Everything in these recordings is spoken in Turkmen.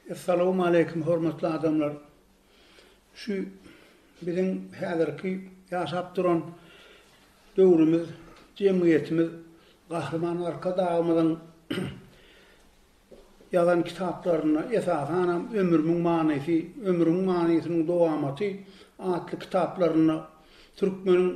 Essalawmaleýkim hormatly adamlar! Şu biziň häzirki ýaşap duran döwrümiz, jemgyýetimiz Gahryman Arkadagymyzyň ýazan kitaplarynda, esasanam Ömrümiň manysy, Ömrüň manysynyň dowamaty atly kitaplarynda, türkmeniň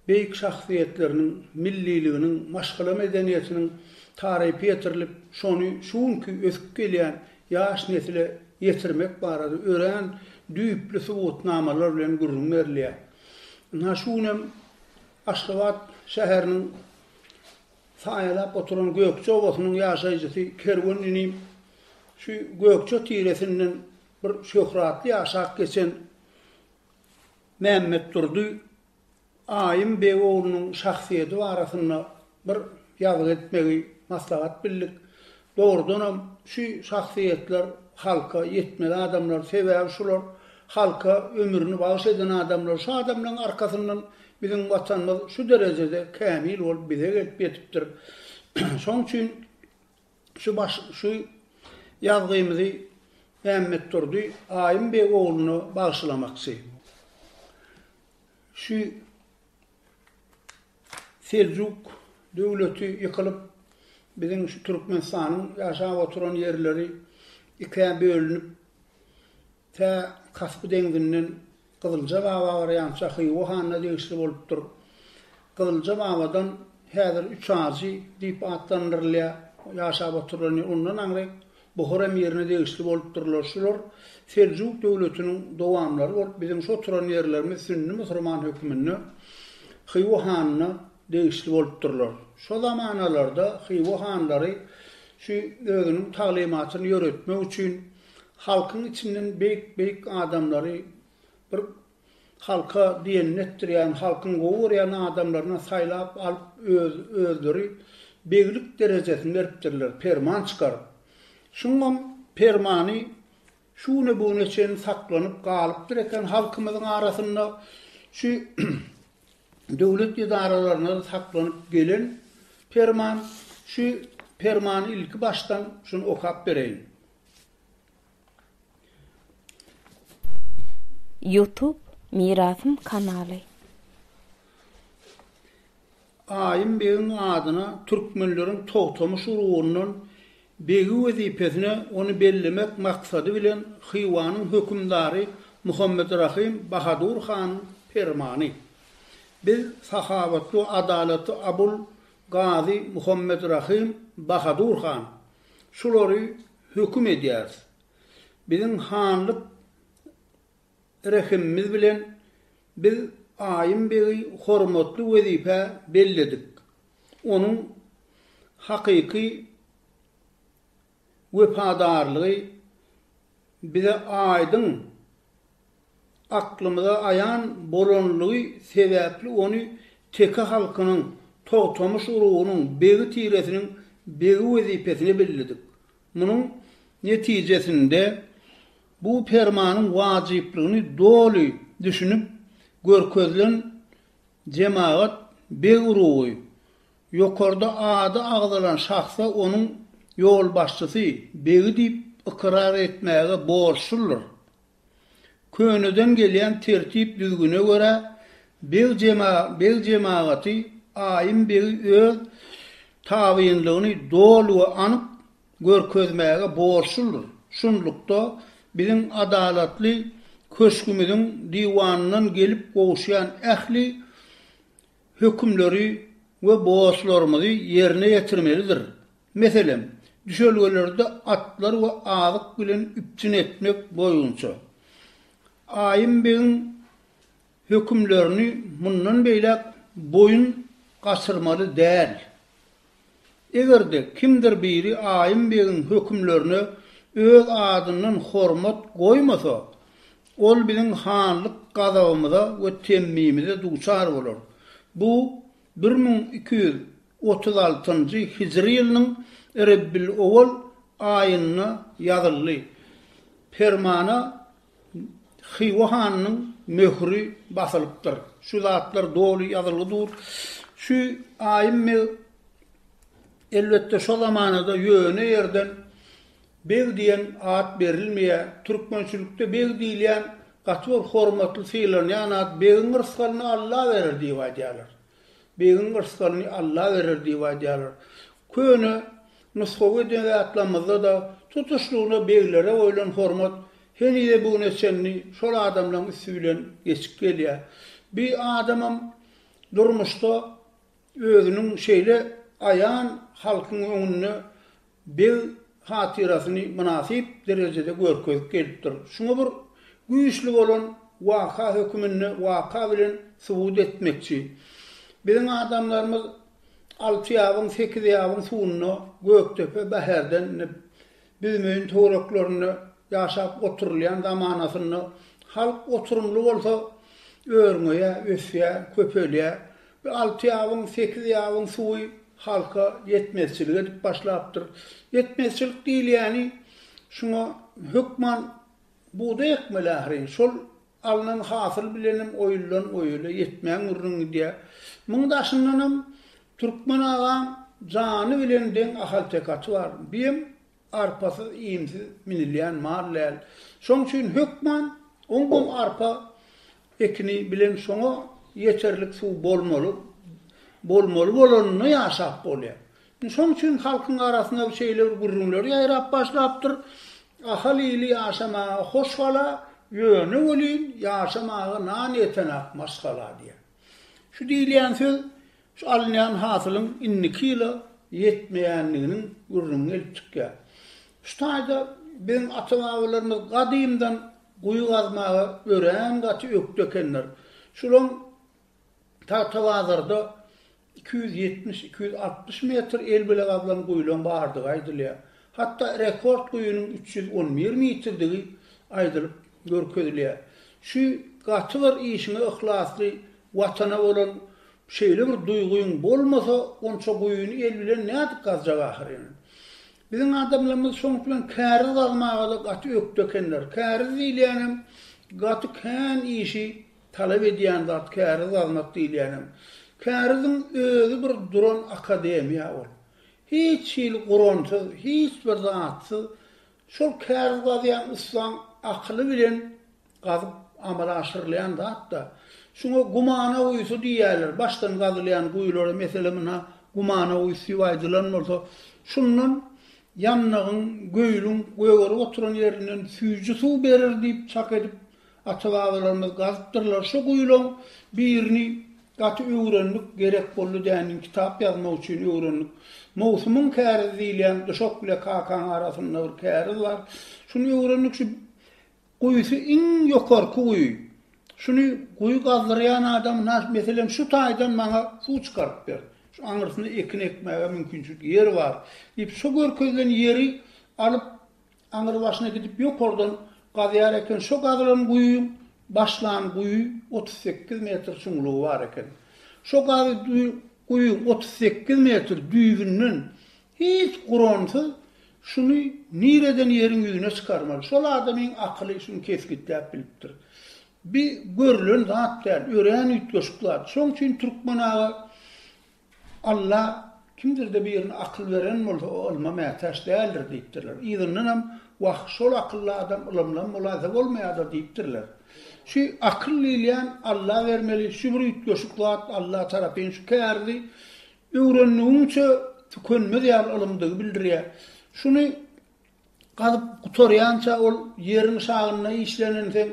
beýik şahsyýetleriniň milliliginiň, maşgala medeniýetiniň tarypy ýetirilip, şony şu günki ösüp gelýän ýaş nesle ýetirmek barada örän düýpli subutnamalar bilen gürrüň berilýär. Ynha, şu gün hem Aşgabat şäheriniň saýalap oturan Gökje obasynyň ýaşaýjysy Kerwen inim şu Gökje tiresinden bir şöhratly ýaşap geçen Mämmetdurdy Aýym beg oglunyň şahsyýeti barasynda bir ýazgy etmegi maslahat bildik. Dogrudanam, şu şahsyýetler halka ýetmeli adamlar. Sebäbi şular halka ömrüni bagyş eden adamlar. Şu adamlaryň arkasyndan biziň Watanymyz şu derejede kämil bolup bize gelip ýetipdir. Şonuň üçin Şu baş şu ýazgymyzy Mämmetdurdy Aýym beg ogluna bagyşlamakçy. Şu Seljuk döwleti ýykylyp, biziň şu Türkmenistanyň ýaşap oturan ýerleri ikä bölünip, Tä Kaspy deňzinden Gyzylja baba barýança Hywa hanyna degişli bolupdyr. Gyzylja babadan häzir Üç ajy diýip atlandyrylýar, ýaşap oturylany. Ondan aňry Buhar emirine degişli bolupdyrlar. Şular Seljuk döwletiniň dowamlary bolup, biziň şu oturan ýerlerimiz sünni musurman höküminde Hywa hanyna degişli bolupdyrlar. Şo zamanalarda Hywa hanlary şu özüniň taglymatyny ýöretmek üçin Halkyň içinden beýik beýik adamlary bir halka diýenini etdirýän halkyň gowy görýän adamlaryna saýlap alyp öz özleri beglik derejesini beripdirler perman çykaryp. Şuňam permany şu güne bu güne çenli saklanyp galypdyr eken halkymyzyň arasynda şu döwlet edaralaryndan saklanyp gelen Perman, şu Permany ilki başdan şuny okap bereýin. Youtube Mirasym kanaly. Aýym begiň adyna türkmenleriň Togtamyş urugyndan Begi wezipesine ony bellemek maksady bilen Hywanyň hökümdary Muhammet Rahym Bahadur hanyň permany. Biz sahawatly we adalatly Abul Gazy Muhammet Rahym Bahadur han şulary höküm edýäris. Biziň hanlyk Rehimimiz bilen biz Aýym begi hormatly wezipä belledik. Onuň hakyky wepadarlygy bize aýdyň, aklymyza aýan bolanlygy sebäpli ony teke halkynyň, Togtamyş urugynyň begi tiresiniň begi wezipesine belledik. Munuň netijesinde Bu Permanyň wajyplygyny doly düşünip görkezilen jemagat beg urugy, ýokarda ady agzalan şahsa onuň ýolbaşçysy, begi diýip ykrar etmäge borçludyr. Köneden gelýän tertip-düzgüne görä, beg jemagaty Aýym begi öz tabynlygyny doly we anyk görkezmäge borçludyr. Şunlukda, biziň Adalatly köşgümiziň diwanyndan gelip gowuşýan ähli hökümleri we borçlarymyzy ýerine ýetirmelidir. Meselem, düşelgelerde atlar we azyk bilen üpjün etmek boýunça Aýym begiň hökümlerini mundan beýläk boýun gaçyrmaly däl. Eger-de kimdir biri Aýym begiň hökümlerine öz adyndan hormat goýmasa, ol biziň hanlyk gazabymyza we temmimize duçar bolar. Bu bir müň iki ýüz otuz altynjy hijri ýylynyň Rebbil-owal aýynda ýazyldy. Permana Hywa hanynyň möhüri basylypdyr. Şu zatlar doly ýazylgy dur. Şu Aýym beg elbetde şo zamanada ýöne ýerden beg diýen at berilmeýär. Türkmençilikde beg diýilýän gaty bir hormatly sylanýan at, begiň rysgalyny Alla berer diýip aýdýarlar. Begiň rysgalyny Alla berer diýip aýdýarlar. Köne nusgawy edebiýatlarymyzda-da tutuşlygyna beglere goýlan hormat henize bu güne çenli şol adamlaryň üsti bilen geçip gelýär. Bir adamam durmuşda özüniň şeýle aýan halkyň öňünde beg hatyrasyny mynasyp derejede görkezip gelipdir. Şuňa bir güýçli bolan waka höküminde waka bilen subut etmekçi. Biziň adamlarymyz Altyýabyň, Sekizýabyň suwunda, Gökdepe, Bäherden indi Büzmeýin töwereklerinde ýaşap oturylýan zamanasynda halk oturymly bolsa örňeýär, ösýär, köpelýär. Bu alty ýabyň, sekiz ýabyň suwy halka ýetmezçilik edip başlapdyr. Ýetmezçilik diýilýäni şuňa hökman bugdaý ekmeli ahyryn. Şol alnan hasyl bilenem oýuldan oýula ýetmän gürrüň gidýär. Muň daşyndanam Türkmen agaň jany bilen deň ahaltekaty bar. Biem Arpasyz, iýmsiz minilýän mal däl. Şoň üçin hökman oňgum arpa ekini bilen şoňa ýeterlik suw bolmaly, bolmaly bolanynda ýaşap bolýar. Indi şoň üçin halkyň arasynda şeýle bir gürrüňler ýaýrap başlapdyr, Ahal ili ýaşamaga hoş gala, ýöne welin ýaşamaga nan ýetenak maşgala diýen. Şu diýilýän söz Şu alynýan hasylyň indiki ýyla ýetmeýändiginiň gürrüňi gelip çykýar. Şu taýda biziň ata-babalarymyz gadymdan guýy gazmaga örän gaty ökde ekenler. Şulaň Tagtabazarda iki ýüz ýetmiş-iki ýüz altmyş metr el bile gazlan guýulaň bardygy aýdylýar. Hatda rekord guýynyň üç ýüz on bir mitrirdigi aýdylyp görkezilýär. Şu gaty bir işiňe yhlasly, Watana bolan Şeýle bir duýgyň bolmasa onça guýyny el bilen nädip gazjak ahyryn. Biziň adamlarymyz şonuň bilen käriz gazmaga-da gaty ökde ekenler. Käriz diýilýänem gaty kän işi talap edýän zat käriz gazmak diýilýänem. Käriziň özi bir duran akademiýa ol. Hiç hili guransyz, hiç bir zatsyz şol käriz gazýan ussaň akyly bilen Gazyp amala aşyrylýan zat-da. Şuňa gumana guýusy diýýärler. Başdan gazylýan guýulara, meselem, ynha, gumana guýusy diýip aýdylan bolsa, şundan ýandagyň, göýüliň gögerip oturan ýerinden süýji suw berer diýip çak edip, ata-babalarymyz gazypdyrlar. Şu guýulaň birini gaty öwrendik, gerek boldy däniň kitap ýazmak üçin öwrendik. Mowsumyň kärizi diýilýän duşak bile kakaň arasynda bir käriz bar. Şuny öwrendik, şu Guýusy iň ýokarky guýy. Şuny guýy gazdyrýan adam nas meselem şu taýdan maňa suw çykaryp ber. Şu aňyrsyna ekin ekmäge mümkinçilik ýer bar diýip şu görkezilen ýeri alyp aňyr başyna gidip ýokardan gazýar eken şo gazylan guýyň başlan guýy otuz sekiz metr çuňlugy bar eken. Şo gazy guýyň otuz sekiz metr düýbünden Hiç guransyz şuny nireden ýeriň ýüzüne çykarmaly? Şol adamyň akyly şuny kesgitläp bilipdir. Bi görülen zat däl, örän üýtgeşik zat. Şoň üçin türkmen aga Alla kimdir-de birine akyl beren bolsa, o ylma mätäç däldir diýipdirler. Yzyndanam Wah, şol akylly adam ylymlam bolaýsa bolmaýar-da diýipdirler. Şu akyl diýilýän Alla bermeli, şu bir üýtgeşik zat, Alla tarapyn şu kärdi Öwrendigiňçe tükenmez ýaly ylymdygy bildirýär. Şuny gazyp gutarýança ol ýeriň şagynda işlenenseň,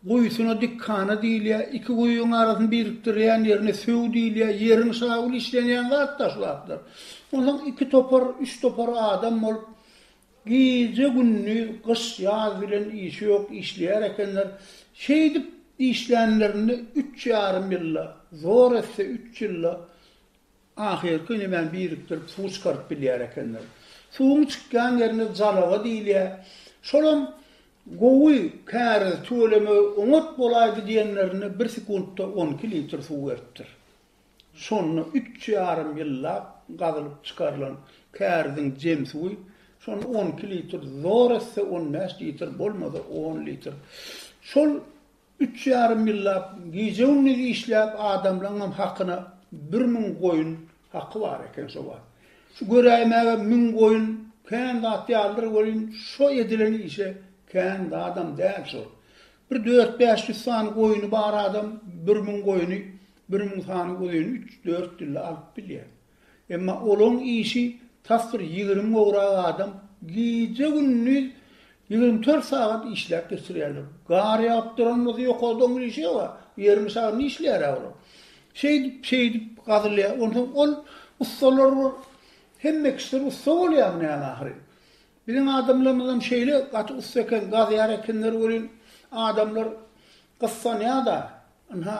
guýusyna dikhana diýilýär. Iki guýyň arasyny birikdirýän ýerine söw diýilýär. Ýeriň şagyl işlenýän zat-da şu zatlar. Onsoň iki topar, üç topar adam bolup, Gije-gündiz, gyş-ýaz bilen işi ýok işleýär ekenler. Şeýdip işlänlerinde üç ýarym ýylda, zor etse üç ýylda ahyrky ünümem birikdirip suw çykaryp bilýär ekenler. Suwuň çykýan ýerine jalaga diýilýär. Şolam gowy, käriz tölemegi oňat bolaýdy diýenlerinde bir sekuntda on iki litr suw beripdir. Şonda üç ýarym ýyllap gazylyp çykarylan käriziň jem suwy, şonda on iki litr, zor etse on bäş litr, bolmasa on litr. Şol üç ýarym ýyllap gije-gündiz işläp adamlaňam hakyna bir müň goýun haky bar eken şo wagt. Şu göräýmäge müň goýun kän zat ýalydyr welin şo edilen işe kän zadam däl şol. Bir dört-bäş ýüz sany goýuny bar adam bir müň goýuny Bir musany uzyn üç-dört dilde alyp bilýär. Emma olaň işi tas bir ýigrimi gowrak adam gije-gündiz ýigrimi dört sagat işläp geçirýärler. Gar ýagyp duran bolsa ýokarda oň işi ýog-a, ýeriň şagrynda işleýär-ä olar. Şeýdip-şeýdip gazylýar. Onsoň ol ussalar bir hemme kişiler ussa bolýarmy näme ahyryn. Biziň adamlarymyzam şeýle gaty ussa eken, gazýar ekenler welin, adamlar Gyssanýa-da, ynha,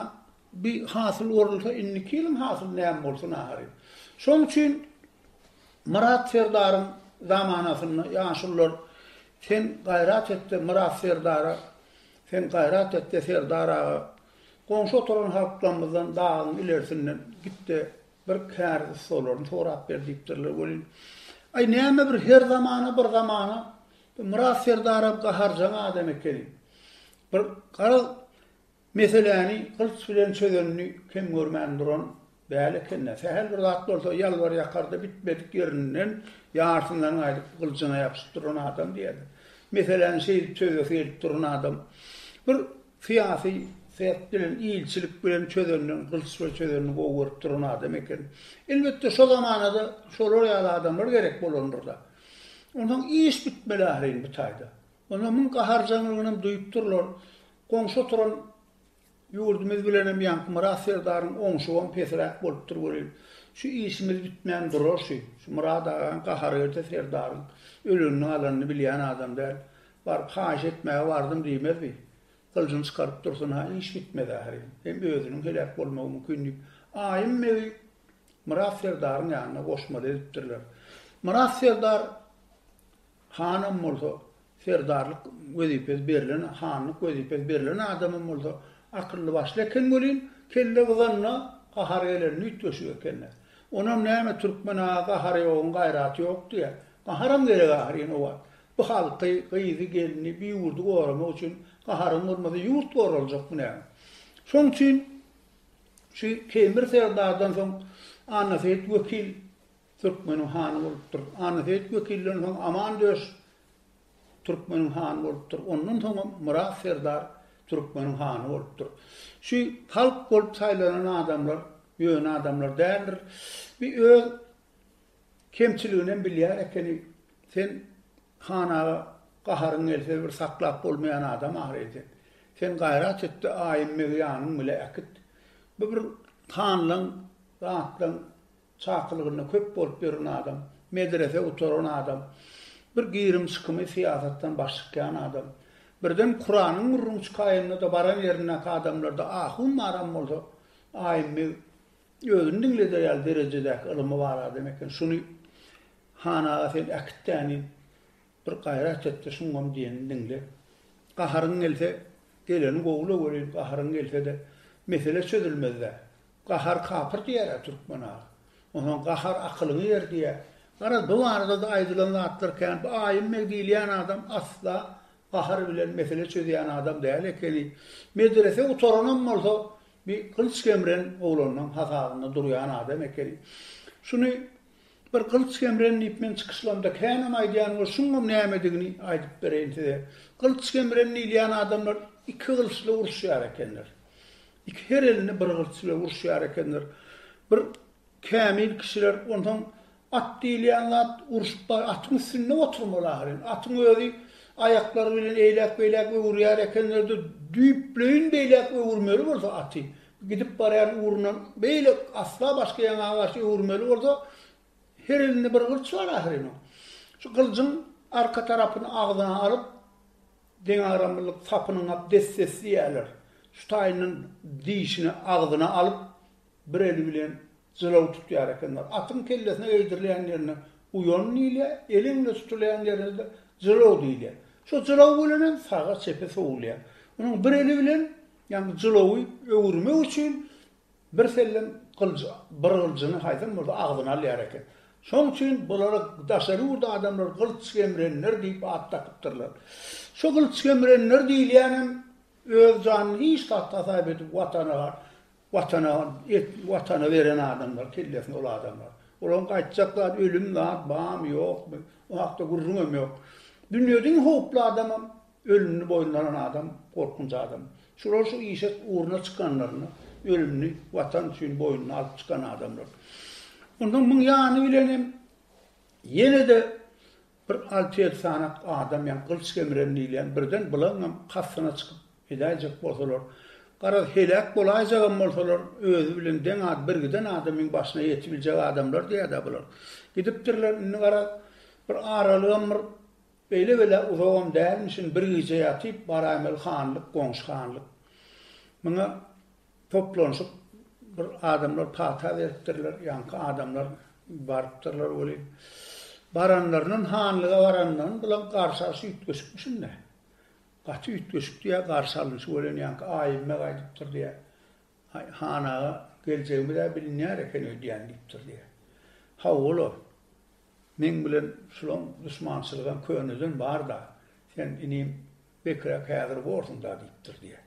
bi hasyl orulsa, indiki ýylyň hasyly näme bolsun ahyry? Şoň üçin Myrat serdaryň zamanasynda ýaşulylar, Sen gaýrat et-de, Myrat serdara, sen gaýrat et-de, serdar aga, goňşy oturan halklarymyzdan dagyň ilerisinden git-de, bir kär ussalaryny sorap ber diýipdirler welin, Aý, näme bir her zamana bir zamana, bu Myrat serdaram gaharjaň adam ekeni. Bir garaz meseläni gylyç bilen çözenini kem görmän duran däl eken-dä. Sähel bir zat bolsa ýalbar-ýakar-da bitmedik ýerinden ýarsyndan gaýdyp gylyjyna ýapyşyp duran adam diýýärler. Meseläni şeýdip çözesi gelip duran adam bir syýasy syýasat bilen, ilçilik bilen çözenden, gylyç bilen çözenini gowy görüp duran adam eken. Elbetde şo zamana-da şolar ýaly adamlar gerek bolandyr-da. Onsoň iş bitmeli ahyryn bu taýda. Onda muň gaharjaňlygynam duýup durlar. Goňşy oturan ýurdumyz bilenem Ýaňkymyrat serdaryň oňşugam pesräk bolupdyr welin, şu işimiz bitmän durar şu. Şu Myrat agaň gahary gelse serdaryň ölenini-galanyny bilýän adam däl. Baryp haýyş etmäge bardym diýmez bi. Gyljyny çykaryp dursun-ha, iş bitmez ahyryn. Hem özüniň heläk bolmagy mümkin diýip, Aýym begi Myrat serdaryň ýanyna goşmaly edipdirler. Myrat serdar Hanam bolsa, serdarlyk wezipesi berlen, hanlyk wezipesi berlen adamam bolsa, akylly-başly eken welin, kelle gyzanda gahary gelen nüýtgeşik eken-de. Onam näme, türkmen aga gahary ýoguň gaýraty ýok diýýä. Gaharam gerek ahyryn o wagt. Bu halky, gyzy, gelni, bu ýurdy goramak üçin gaharyň bolmasa ýurt goraljakmy näme? Şoň üçin şu Kemir serdardan soň Annaseýit wekil, Türkmeniň hany bolupdyr. Annaseýit Wekilden soň Aman döş Türkmeniň hany bolupdyr. Ondan soňam Myrat serdar Türkmeniň hany bolupdyr. Şu halk bolup saýlanan adamlar ýöne adamlar däldir. Bi öz kemçiliginem bilýär ekeni. Sen Han aga gaharyň gelse bir saklap bolmaýan adam ahyry sen. Sen gaýrat etde Aýymmegi ýanyň bile äkit. Bu bir hanlaň, zatlaň Çakylygynda köp bolup ýören adam, medrese gutaran adam, bir girim-çykymy syýasatdan baş çykýan adam, birden Kuranyň gürrüňi çykaýanda-da baran ýerindäki adamlarda ahun baram bolsa, aýymmy özüni diňleder ýaly derejedäki ylymy bar adam eken, şuny han aga sen äkit-dänin, Bir gaýrat et-de, şuňam diýenini diňle. Gaharyň gelse, geleni gowla welin, gaharyň gelse-de, mesele çözülmez-dä. Gahar kapyr diýer-ä türkmen aga. Onsoň gahar akylyňy ýer diýýär. Garaz, bu barada-da aýdylan zatlar kän. Bu Aýym beg diýilýän adam asla gahar bilen mesele çözýän adam däl ekeni. Medrese gutaranam bolsa, bir gylyç gemren oglanlaryň hasabynda durýan adam ekeni. Şuny Bir gylyç gemren diýip men çykyşlarymda känem aýdýan we şuňam nämedigini aýdyp bereýin size. Gylyç gemren diýilýän adamlar iki gylyçly uruşýar ekenler. Iki her elini bir gylyç bilen uruşýar ekenler. Bir kämil kişiler onsoň at diýilýän zat urşup bar atyň üstünde oturmaly ahyryn. Atyň özi aýaklary bilen eýläk-beýläk öwürýär ekenler-de düýpleýin beýläk öwürmeli bolsa aty. Gidip barýan ugrundan beýle asla başga ýaňa garşy öwürmeli bolsa, her elinde bir gylyç bar ahyryn oň. Şu gylyjyň arka tarapyny agzyna alyp, deňagramlylyk sapynyňap des-des diýerler. Şu taýyndan dişini agzyna alyp, bir eli bilen Jylaw tutýar ekenler. Atyň kellesine eýdirilýän ýerine uýan diýilýär, eli öňde tutulýan ýerine-de jylaw diýilýär. Şo jylaw bilen hem saga-çepe sowulýar. Onuň bir eli bilen, ýagny jylawy öwürmek üçin birsellem gylyjy, bir gylyjyny haýsam bolsa agzyna alýar eken. Şoň üçin bulara daşary ýurt adamlary gylyç gemrenler diýip at dakypdyrlar. Şo gylyç gemrenler diýilýänem öz janyny hiç zat hasap edip Watana Watana et watana beren adamlar kellesine ol adamlar. Olaň gaýtjak zat ölüm zat bamy ýokmy o hakda gürrüňem ýok. Dünýede iň howply adamam ölümini boýnuna alan adam gorkunç adam. Şular şu işe ugruna çykanlarynda ölümini watan üçin boýnuna alyp çykan adamlar. Ondan muň ýany bilenem ýene-de Bir alty ýedi sanak adam ýa gylyç gemren diýilýän birden bulaňňam kastyna çykyp gidäýjek bolsalar, garaz heläk bolaýjagam bolsalar özi bilen deň az birgiden adamyň başyna ýetibiljek adamlar diýädä bular. Gidipdirler indi garaz bir aralygam bir beýle bela uzagam dälmişin bir gije ýatyp baraýmaly hanlyk goňşy hanlyk. Muňa Toplanyşyp bir adamlar pata beripdirler, ýaňky adamlar barypdyrlar welin, baranlaryndan, hanlyga baranyndan bulaň garşy alşy üýtgeşikmiş indi. Gaty üýtgeşik diýýär garşy alynşy welin, ýaňky Aýymbeg aýdypdyr diýýär, Aý, han aga, geljegimiz-ä bilinýär eken öýdýän diýipdir diýýär. Haw, olam, meň bilen şulaň duşmançylygam köneden bar-da, sen, inim, Bekiräk häzir borsuň-da, diýipdir, diýýär.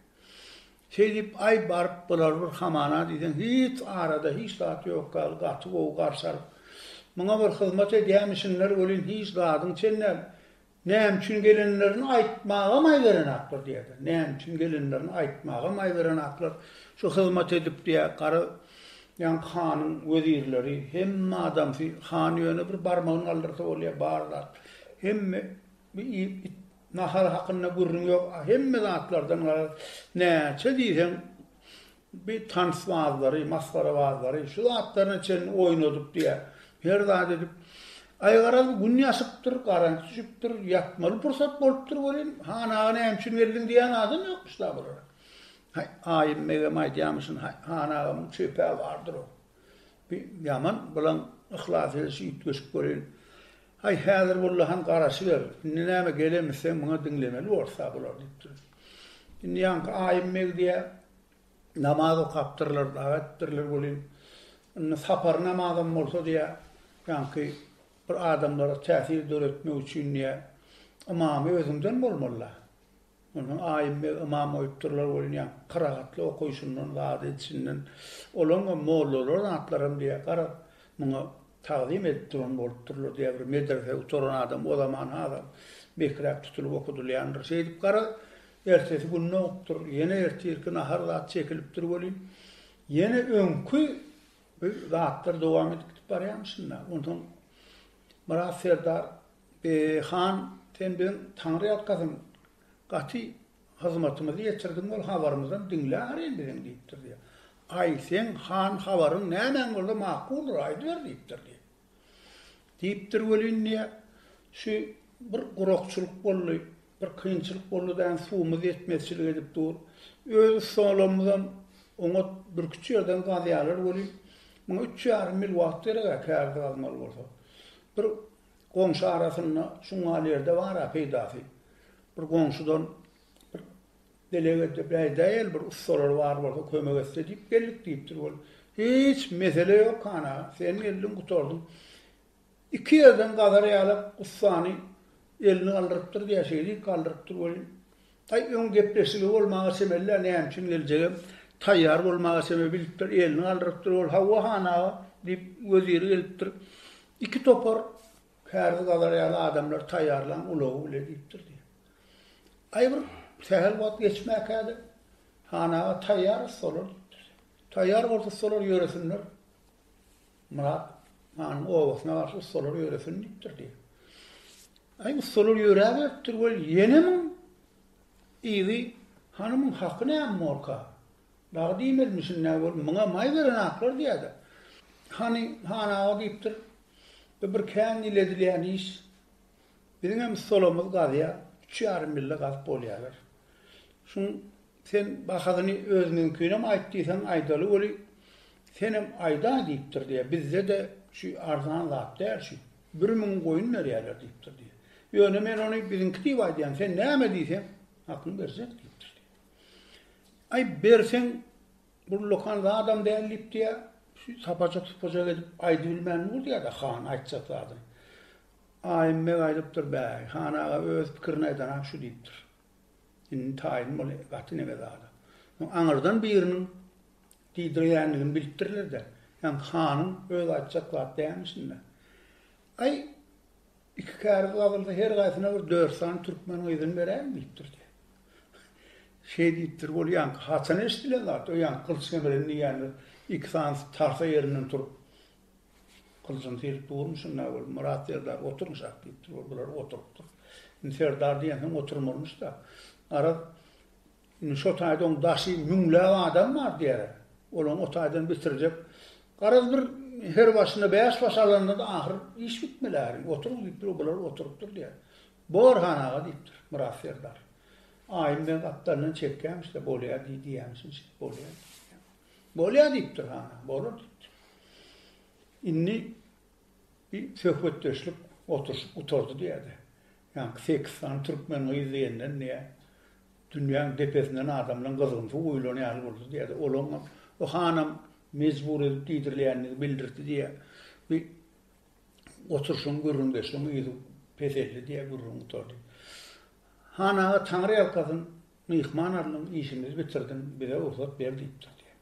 Şeýdip, aý baryp, bular bir hamana diýseň, hiç arada hiç zat ýok ýaly gaty gowy garşy alyp, muňa bir hyzmat edýämişinler welin hiç zadyň çen däl. Näme üçin gelenlerini aýtmagam aý berenaklar, diýýärler. Näme üçin gelenlerini aýtmagam aý berenaklar. Şu hyzmat edip, diýýär, gara ýaňky hanyň wezirleri, hemme adamsy, han ýöne bir barmagyny galdyrsa bolýar, bar zat. Hemme Bu iýip it nahary hakynda gürrüň ýok hemme zatlardan garaz näçe diýseň bir tansbazlary masgarabazlary şu zatlaryna çenli oýnadyp diýä her zat edip aý garaz gün ýaşypdyr garanç düşüpdir ýatmaly pursat bolupdyr welin han aga näme üçin geldiň diýän adam ýokmyş da bulara aýym begem aýdýamyşyn han agamyň çöpe bardyr o Bi ýaman bilen yhlas edişi üýtgeşik göreýin. Haý häzir walla han garaşyber. Indi näme gelenmi sen muňa diňlemeli bolsa bular diýipdir. Indi ýaňky aýym Megdiýä namaz okapdyrlar dagy etdirler welin indi sapar namazam bolsa diýä ýaňky bir adamlara täsir döretmek üçin diýä ymamy özüňden bolmalyda. Onuň aýym we ymam goýupdyrlar bolýan kyragatly okaýşyndan, wagyz edişinden, olaňam mollalar zatlaram diýýär, garaz, muňa tagzym edip duran bolupdyrlar diýýär, bir medrese gutaran adam o zaman hasam bekiräk tutulyp okadylýandyr. Şeýdip, garaz, ertesi gün nowupdyr, ýene ertirki nahar zat çekilipdir welin, ýene öňki zatlar dowam edip gidip barýarmyşyn-da. Onsoň Myrat serdar Eý, han, sen biziň Taňry ýalkasyn, gaty hyzmatymyzy ýetirdiň, ol habarymyzam diňle ahyryn biziň diýipdir, diýýär. Aý, seň, han, habaryň nämäň bolsa makuldyr, aýdyber diýipdir, diýýär. Diýipdir welin, diýýär, şu bir gurakçylyk boldy, bir kynçylyk boldy däň, suwumyz ýetmezçilik edip dur. Öz ussalarymyzam oňat bürküt ýerden gazýarlar welin, muňa üç ýarym mil wagt gerek-ä kärde gazmaly bolsa. Bir Goňşy arasynda şuňňalerde bar-a peýdasy. Bir goňşudan bir delegede bäýdäýeli bir ussalar bar bolsa kömek etse diýip geldik diýipdir. Ol, Hiç mesele ýok, han aga, sen geldiň, gutardyň. Iki ýerden gazar ýaly ussany elini galdyrypdyr diýýär, şeýdip galdyrypdyr welin, Aý öň gepleşigi bolmaga çemelidä näme üçin geljegem taýýar bolmaga çeme bilipdir elini galdyrypdyr ol hawa han aga diýip weziri gelipdir iki topar kärzi gazar ýaly adamlar taýýarlaň ulagy bile diýipdir diýýär aý bir sähel wagt geçmäkäde han aga taýýar ussalar diýipdir taýýar bolsa ussalar ýöresinler. Myrat hanyň obasyna garşy ussalar ýöresin diýipdir diýip. Aý, ussalar ýöräberipdir weli, ýenemň yzy hanymyň haky näme bolka? Dagy diýmelimişin-dä weli, muňa maý beren aklar diýýä-de. Hany, han aga diýipdir, bu bir kän ýyl edilýän iş. Biziňem ussalarymyz gazýar, üç ýarym ýylda gazyp bolýarlar. Şuň Sen bahasyny özüňiňkinem aýt diýseň aýdaly weli, senem aýdaý diýipdir diýýär. Bizde-de şu arzan zat däl şu. Bir müň goýun berýärler diýipdir diýýär. Ýöne men ony biziňki diýip aýdýan, sen näme diýseň, hakyňy berjek diýipdir diýýär. Aý, berseň, bullakan zadam däl diýip diýýär. Şu sapajyk-supajyk edip aýdybilmän dur diýýär-de han aýtjak zadyny. Aýym beg aýdypdyr, Bäý, han aga öz pikirini aýdan-a şu diýipdir. Indi taýyn bol gaty neme zada. Soň aňyrdan biriniň diýdirýändigini bilipdirler-de, ýaňky hanyň öz aýtjak zat dälmişin-dä. Aý, iki käriz gazylsa, her gaýsyna bir dört sany türkmen gyzyny beräýiň diýipdir diýýär. Şeý diýipdir, ol ýaňky haçan eşidilen zat, o ýaňky gylyç gemerin diýýänler iki sanysy tarsa ýerinden turup, Gylyjyny syryp durmy şunda ol? Myrat serdar oturyň şah diýipdir. Ol bular oturypdyr. Indi serdar diýensoň oturmalymyş-da. Garaz, indi şo taýda oň daşy müňläp adam bar diýere. Ol oň o taýdan bitirjek. Garaz bir her başyna bäş baş alanda-da ahyr iş bitmeli äriň. Oturyň diýipdir. Ol bular oturypdyr diýer. Bor han aga diýipdir Myrat serdar. Aýym ben gapdalyndan çekýämiş-de bolýa diý diýýämişin şeýdip bolýa diýýär. Bolýar diýipdir, ha, bolar diýipdir. Indi bir söhbetdeşlik, oturyşyk gutardy diýýär-de, ýaňky sekiz sany türkmen gyz diýenden diýýär, dünýäň depesinden adamlaryň gyzgyn suw guýlan ýaly boldy diýýär-de, olaňam o hanam mejbur edip diýdirilýänini bildirdi diýýär. Bir oturyşyň, gürrüňdeşligiň yzy peseldi diýýär, gürrüň gutardy. Han aga taňryýalkasyn, Myhman alnyň işimizi bitirdiň bize rugsat ber diýipdir diýen.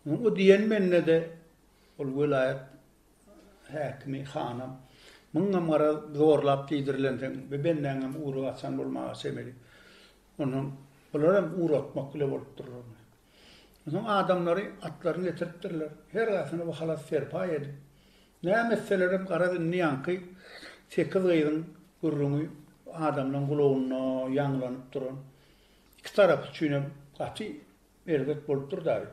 Onuň o diýen mennede ol welaýat häkimi hanam Muňam garaz zorlap diýdirilensiň bi bendäňem ury gaçan bolmaga çemeli. Onsoň bularam uratmak bile bolup durur. Onuň adamlary atlaryny getiripdirler. Her gaýsyny bu halas serpaý edip, näme etselerem garaz indi ýaňky sekiz gyzyň gürrüňi adamlaryň gulagynda ýaňlanyp duran iki tarap üçinem gaty erbet bolup dur daýy.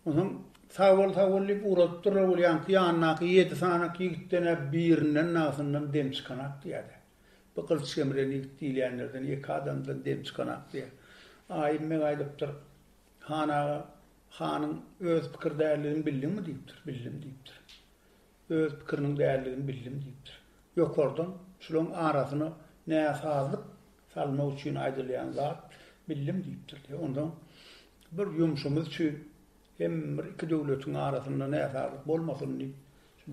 Onsoň sag bol sag bol diýip ugradypdyrlar ol ýaňky ýanyndaky ýedi sanyk ýigitden-ä birinden nagtyndan dem çykanak diýýärdi. Bu gylyç gemrän ýigit diýilýänlerden ýeke adamdan dem çykanok diýýär. Aýym beg aýdypdyr, Han aga, hanyň öz pikir däldigini bildiňmi? diýipdir. Bildim diýipdir. Öz pikiriniň däldigini bildim diýipdir. Ýokardan şularyň arasyna näsazlyk salmak üçin aýdylýan zat bildim diýipdir diýýär. Onsoň bir ýumşumyz üçin hem bir iki döwletiň arasynda näsazlyk bolmasyn diýip,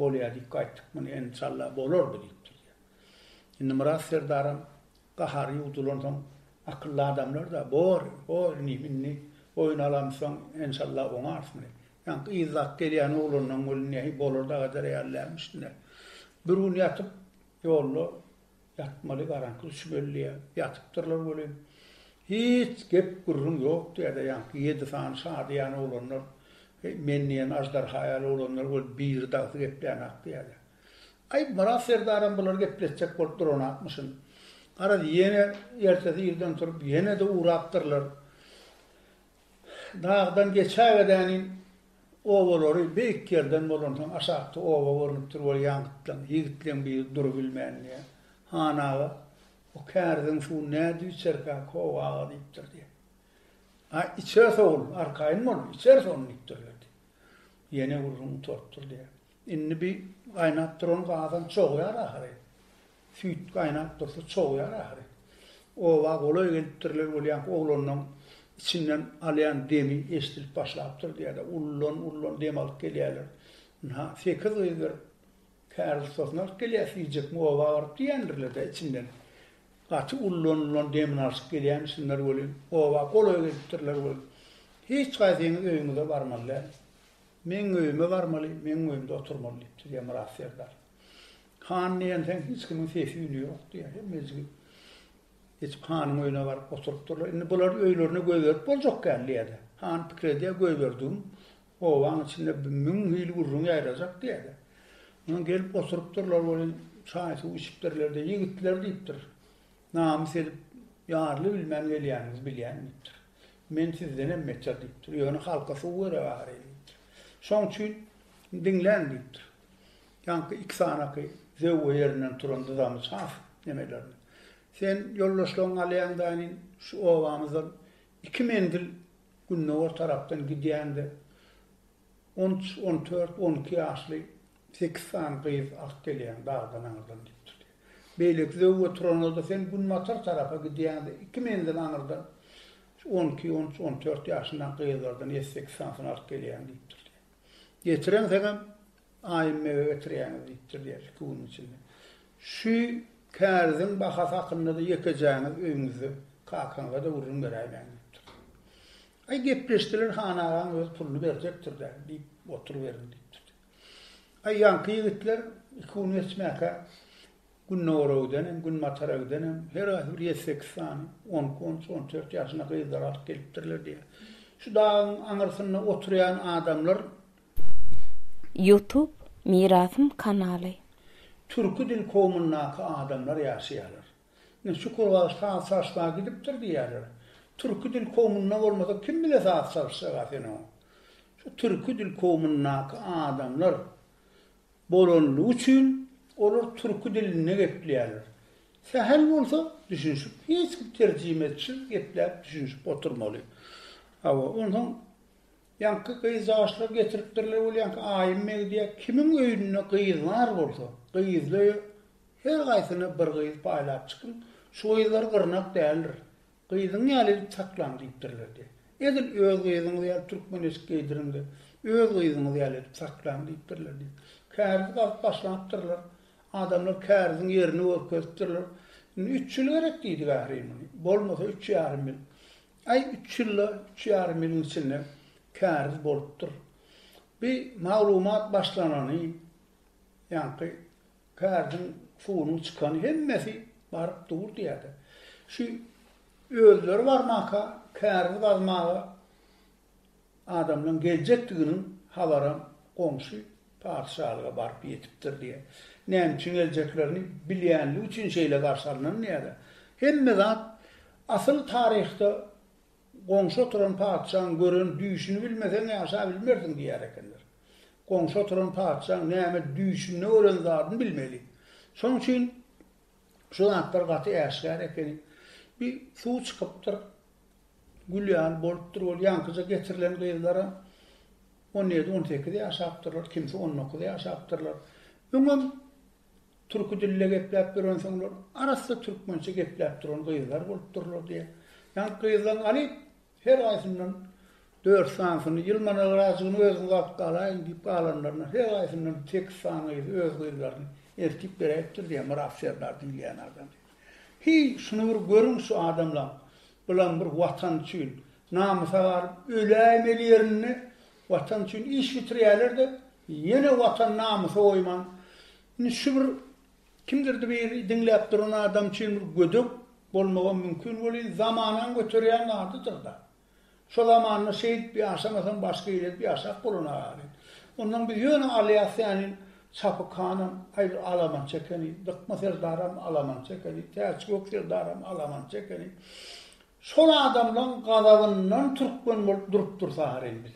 bolýa diýip gaýtdyk. Muny enşalla bolar bu diýipdir diýýär. Indi Myrat serdaram gahary ýuwdulansoň, akylly adamlar-da, Bor, bor, inim, indi boýun alamyzsoň, enşalla oňarys muny. Ýaňky yzlap gelýän oglanlaň weli nähili bolar dagadar ýaly dälmi üstüne. Bir gün ýatyp, ýolda ýatmaly, garaňky düşüp elleýär. Ýatypdyrlar welin, hiç gep-gürrüň ýok diýer-de, ýaňky ýedi sany şa diýen oglanlar, Heý, men diýen aždarha ýaly oglanlar weli biri dagsy geplänak diýerler. Aý, Myrat serdaram bulary gepletjek bolup duranakmyşyn. Garaz, ýene ertesi irden turup, ýene-de ugrapdyrlar. Dagdan geçäwedänin, obalary beýik ýerden bolansoň, aşakda oba görnüp dur bolýan gytlaň. Ýigitleň biri durubilmänini, Han aga, bu käriziň suwy nädip içerkä, Kowa aga diýipdir, diýýär. A, içeris ogul, arkaýyn bol, içeris ony diýipdir, diýýär. Ýene gürrüň gutarypdyr, diýýär. Indi bi gaýnap duran gazan çogýar ahyry. Süýt gaýnap dursa çogýar ahyry. Oba golaý gelipdirler bolýank oglanyň içinden alýan demi eşdilip başlapdyr diýýärler. Ullan ullan dem alyp gelýärler. Ynha, sekiz gyz bir kär ussasyny alyp gelýär süýjekmi oba baryp diýendirler-dä içinden. Gaty ullan ullan demini alşyp gelýämişinler welin, oba golaý gelipdirler welin, Hiç gaýsyňyz öýüňize barmaly däl. Meň öýüme barmaly, meň öýümde oturmaly, diýipdir, diýýär Myrat serdar. Han diýensoň, hiç kimiň sesi-üni ýok, diýýär. Hemmejigi geçip hanyň öýüne baryp oturypdyrlar. Indi bular öýlerine göz berip boljak däl, diýýär-de. Han pikir edýär, göz berdigim obaň içinde müň hili gürrüň ýaýrajak, diýýär-de. Onsoň gelip oturypdyrlar welin, çaý-suw içipdirler-de, Ýigitler, diýipdir, namys edip, ýarly bilmän gelýäniňizi bilýän, diýipdir. Men sizdenem beter diýipdir. Ýöne halka suw bere barýyn diýipdir. Şoň üçin diňläň diýipdir. Ýaňky iki sanaky zöwwe ýerinden turan dyzamyç has nemelerdi. Sen ýoldaşlaryňy alýaň daýnin, şu obamyzdan iki menzil gündogar tarapdan gidýäň-de, on üç, on dört, on iki ýaşly Sekiz sany gyz ak gelýäň dagdan aňyrdan diýip durdy. Beýleki zöwwe turan-da sen günbatar tarapa gidýäň-de, iki menzil aňyrdan on iki, on üç, on dört ýaşyndaky gyzlardan ýedi, sekiz sanysyny alyp gelýäň diýip durdy. Getireňseňem, Aýym mege getirýäňiz diýip durdy iki günüň içinde. Şu kärziň bahasy hakynda-da ýekejäňiz öýüňizde kakaňyza-da gürrüň beräýmäň diýip durdy. Aý, gepleşdiler, han agaň özi puluny berjekdir-dä diýip oturyberin diýip durdy. Aý, ýaňky ýigitler iki gün geçmäkä Gündogara gidenem, Günbatara gidenem, her haýsy bir ýedi-sekiz sany on iki, on üç, on dört ýaşyna gyzlary alyp gelipdirler diýýär. Şu dagyň aňyrsynda oturýan adamlar. Youtube Mirasym kanaly. Türki dil kowmyndaky adamlar ýaşaýarlar. Ine, Çukur Gazy saz çalşmaga gidipdir diýýärler. Türki dil kowmunda bolmasa kim bile saz çalşjak-a sen oňa? Şu türki dil kowmundaky adamlar bolanlygy üçin olar türki dilinde gepleýärler. Sähel bolsa düşünşip, hiç kim terjimeçisiz gepläp düşünşip oturmaly. Hawa, onsoň Ýaňky gyz ýaşlar getiripdirler ol ýaňky aýym megdiýä kimiň öýünde gyz bar bolsa gyzly öýe her gaýsyna bir gyz paýlap çykyň şu gyzlar gyrnak däldir gyzyň ýaly edip saklaň diýipdirler diýýär edil öz gyzyňyz ýaly türkmen eşik geýdiriň de öz gyzyňyz ýaly edip saklaň diýipdirler diýip käriz gazyp başlapdyrlar adamlar käriziň ýerini görkezipdirler indi üç ýyl gerek diýdik ahyryn bolmasa üç ýarym ýyl Aý üç ýylda üç ýarym ýylyň içinde käriz bolupdyr. Bi maglumat başlanany, ýaňky käriziň suwunyň çykany hemmesi baryp dur diýädi. Şu özleri barmaka käriz gazmaga adamlaň geljekdiginiň habaram goňşy Patyşalyga baryp ýetipdir diýýär. Näme üçin geljeklerini bilýänligi üçin şeýle garşy alnan diýýär-de. Hemme zat asyl taryhda goňşy oturan patyşaň gören düýşüni bilmeseň ýaşabilmersiň diýýär ekenler. Goňşy oturan patyşaň näme düýşünde gören zadyny bilmeli. Şoň üçin şu zatlar gaty äşgär ekeni. Bir suw çykypdyr. Gül ýaly bolupdyr ol ýaňkyja getirilen gyzlara on ýedi on sekiz ýaşapdyrlar kimsi on dokuz ýaşapdyrlar öňem türki dilde gepläp ýörensoňlar arassa türkmençe gepläp duran gyzlar bolupdyrlar diýýär ýagny gyzlaň alyp her gaýsyndan dört sanysyny ýylmana gyrajygyny özüňiz alyp galaýyň diýip galanlaryna her gaýsyndan sekiz sany gyzy öz gyzlaryny eltip beräýipdir diýýär myrat serdar diýilýän adam. Heý, şuny bir görüň şu adamlaň. Bulam bir watan üçin namysa galyp öläýmeli ýerinde watan üçin iş bitirýäler-de, ýene watan namysa goýman. Indi şu bir kimdirdi bir diňläp duran adam üçin bir gödek bolmagam mümkin welin zamanaň göterýän zadydyr-da. Şo zamanda şeýdip ýaşamasam başga ýeri edip ýaşap bolana-a diýip. Ondan biz ýöne alýas sänin Çapyk hanam gaýry alaman çekeni, Dykma serdaram alaman çekeni, Täçgök serdaram alaman çekeni. Şol adamlaň gazabyndan türkmen bolup durup dursaram biz.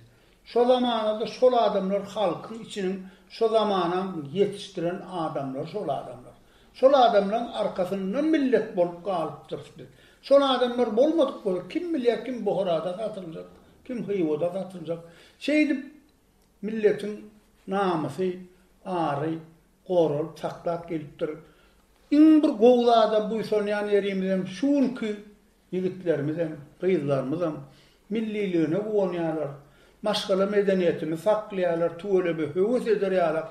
Şo zamanada şol adamlar halkyň içiniň şo zamanam ýetişdiren adamlary şol adamlar. Şol adamlaryň arkasyndan millet bolup galypdyrys biz. Şol adamlar bolmadyk bolsa kim bilýär kim Buharada satyljak, kim Hywada satyljak. Şeýdip milletiň namysy, ary goralyp saklap gelipdir. Iň bir gowy zada buýsanýan ýerimizem şu günki Ýigitlerimizem, gyzlarymyzam milliligine guwanýarlar, maşgala medeniýetini saklaýarlar, tüweleme höwes eder ýalak.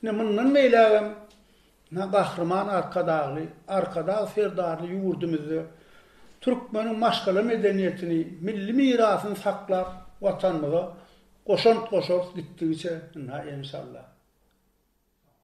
Ine, mundan beýlägem Gahryman Arkadagly, Arkadag Serdarly ýurdumyzda türkmeniň maşgala medeniýetini, milli mirasyny saklap, Watanymyza goşant goşarys gitdigiçe, ynha, enşalla.